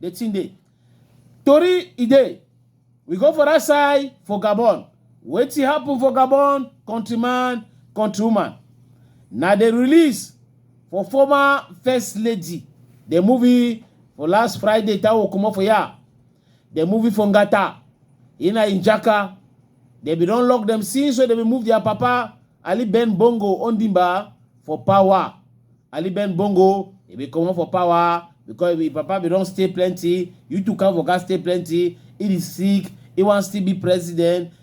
the thing dey tori e dey we go for that side for gabon wetin happen for gabon countryman countrywoman na the release for former first lady the movie for last friday tawo comot for here Dem moving for Ngata, Ina Injaka. Dem bin don lock dem since wey dem bin move their papa Ali Ben Bongo Ondimba for power. Ali Ben Bongo e bin comot for power because him papa bin don stay plenty, Yutu Kanvoka stay plenty, he dey sick, he wan still be president.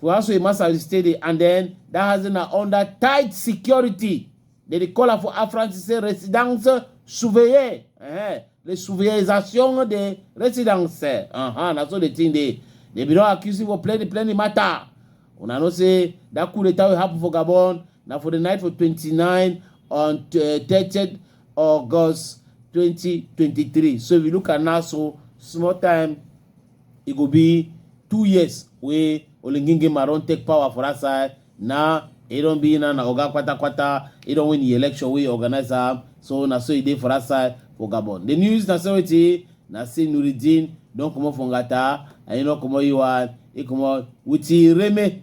for house wey Masari stay dey and then that house na under tight security they dey call am for Afransi say residence surveillée uh-huh. le surveillisation de residence uh-huh. na so the thing dey they be don accuse him for plenty plenty matter una know say that coup d'etat wey happen for Gabon na for the night for 29 on uh, 30 August 2023 so if you look at now so small time e go be two years wey olengengema don take power for dat side now e don be na na oga kwatakwata e don win di election wey organise am so na so e dey for dat side for gabon di news na say wetin na say nuridin don comot for ngata and e don comot e one e comot wit reme